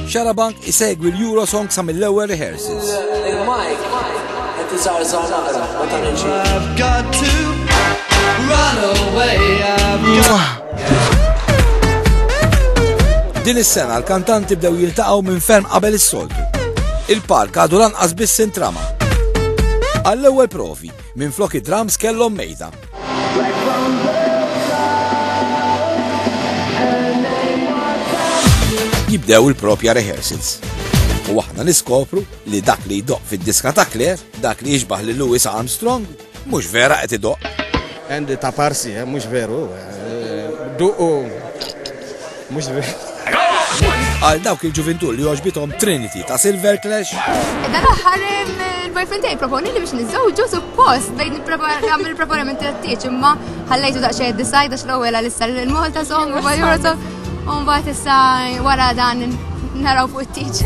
Xarabank isegwi l-Eurosong sa mill-ewwel rehearsals. I've got to run away. Din is-sena l-kantanti bdew jiltaqgħu minn ferm qabel is-soltu. Il-park għadu lanqas biss intrama. Għall-ewwel provi, minn flok id-drums kellhom mejda. Jibdew il-propja rehearsals. U aħna niskopru li dak li jdoq fid-diska ta' Claire, dak li jiġbaħ li Louis Armstrong, mhux vera qed idoq. Andy ta' parsi, eh, mhux veru. Eh, duqu Mhux Għal dawk il-ġuvintu li għoġbitom Trinity ta' Silver Clash. Dan aħħar il-boyfriend tiegħi proponi li biex niżżewġu suppost bejn nagħmel il-preparamenti għat-tieġ imma ħallejtu daqsxejn id-design għax l-ewwel għal issa l-Malta song u Malta u mbagħad issa wara dan naraw fuq it-tieġ.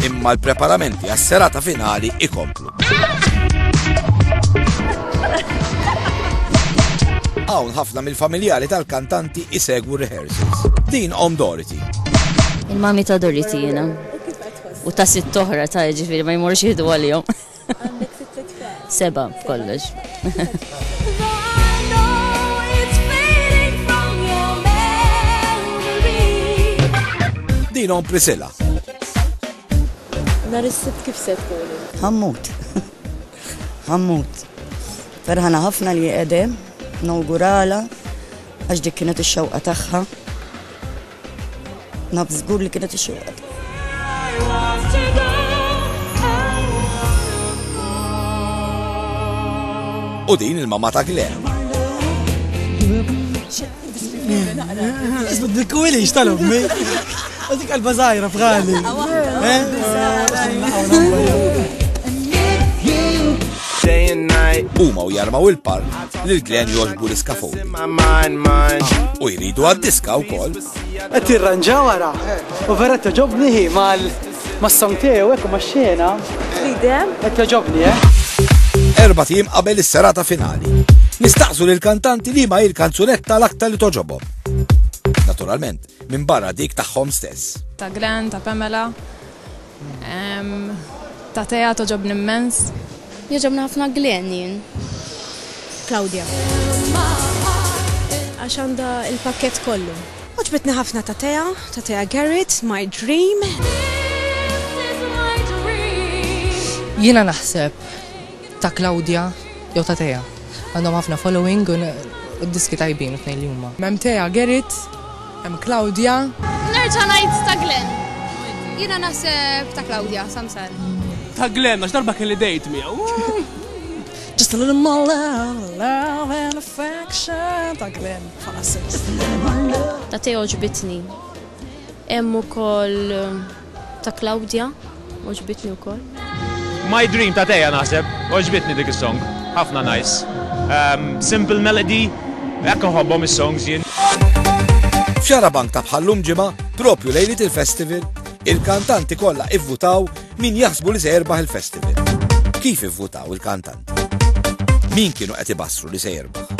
Imma l-preparamenti għas-serata finali ikomplu. Hawn ħafna mill-familjari tal-kantanti isegwu rehearsals. Din Om Dorothy. Il-mami ta' Dorothy jena. U ta' sitt oħra ta' ġifiri ma jmorx jihdu għal-jom. Seba, kollox. Din Om Priscilla. Nhar is-Sibt kif se tkunu? Ħammut. Ħammut. Ferħana ħafna li qegħdem nawgurala għax dik kienet ix-xewqa tagħha. Naf żgur li kienet ix-xewqa U din il-mamma ta' Glenn. Dikkuwilix tal-ommi. Għadik għalba zaħira fħali. Day and night. Uma u jarmaw il-park li l-glen joġbu l-iskafu. U jridu għad-diska u koll. Għet irranġaw għara. U vera t-ġobni hi mal Mas-song tiegħu hekk u max-xena. Bidem. Qed jogħġobni, eh? Erba' tim qabel is-serata finali. Nistaqsu lil kantanti li ma il-kanzunetta l-aktar li toġobhom. Naturalment, minn barra dik tagħhom stess. Ta' Glenn, ta' Pamela, ta' teja toġob nimmens. Joġobni ħafna Glenn jien. Claudia. Għax għanda il-pakket kollu. Għoġbitni ħafna ta' Tea, ta' Tea Garrett, My Dream. Jiena naħseb ta' Claudia jew ta' Tea. Għandhom ħafna following u d-diski tajbin it-tnejn li huma. Hemm Tea Garrett, hemm Claudia. Nerġa' ngħid ta' Glenn. Jiena naħseb ta' Claudia, Samsar. Ta' Glenn għax darba kelli dejt miegħu. Just a little more love, love and affection ta' Glenn. Ta' Teo għoġbitni. Hemm ukoll ta' Claudia, għoġbitni wkoll. My Dream ta' Tea naħseb, għoġbitni dik is-song, ħafna nice. Simple melody, hekk inħobbhom is-songs jien. F'Xarabank ta' bħal-lum ġimgħa, propju lejliet il-festival, il-kantanti kollha ivvutaw Min jaħsbu li se jerbaħ il-festival? Kif ivvutaw il-kantanti? Min kienu qed ibassru li se jerbaħ?